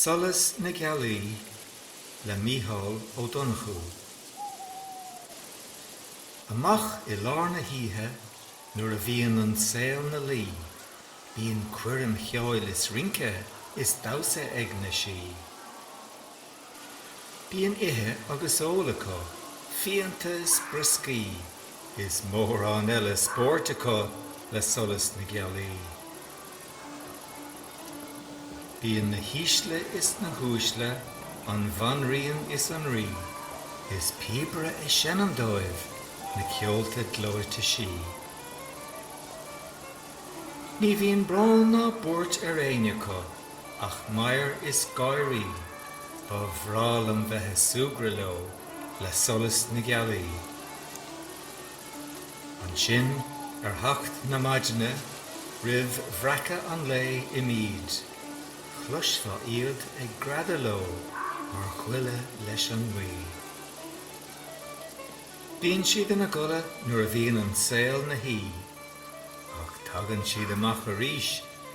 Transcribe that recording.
Solas na Gealaí le Mícheál Ó Donnchú. Amach i lár na hoíche nuair a bhíonn an saol 'na luí Bíonn coirm cheoil is rince is damhsa ag na Sí. Bíonn ithe agus ól acu, fíonta is brioscaí, is mórán eile spóirt acu le solas na gealaí. Bíonn na hísle is na huaisle, an bhanríon is an rí, is píobaire ag seinm dóibh na ceolta gleoite sí. Ní bhíonn brón ná buairt ar éinne acu. Ach meidhir is gáirí. Ba bhreá liom bheith ag súgradh leo le solas na gealaí. Ansin, ar theacht na maidine, roimh bhreacadh an lae imíd, chloisfeá iad ag greadadh leo mar ghála leis an ngaoth. Bíonn siad ina gcodladh nuair a bhíonn an saol 'na shuí, ach tagann siad amach arís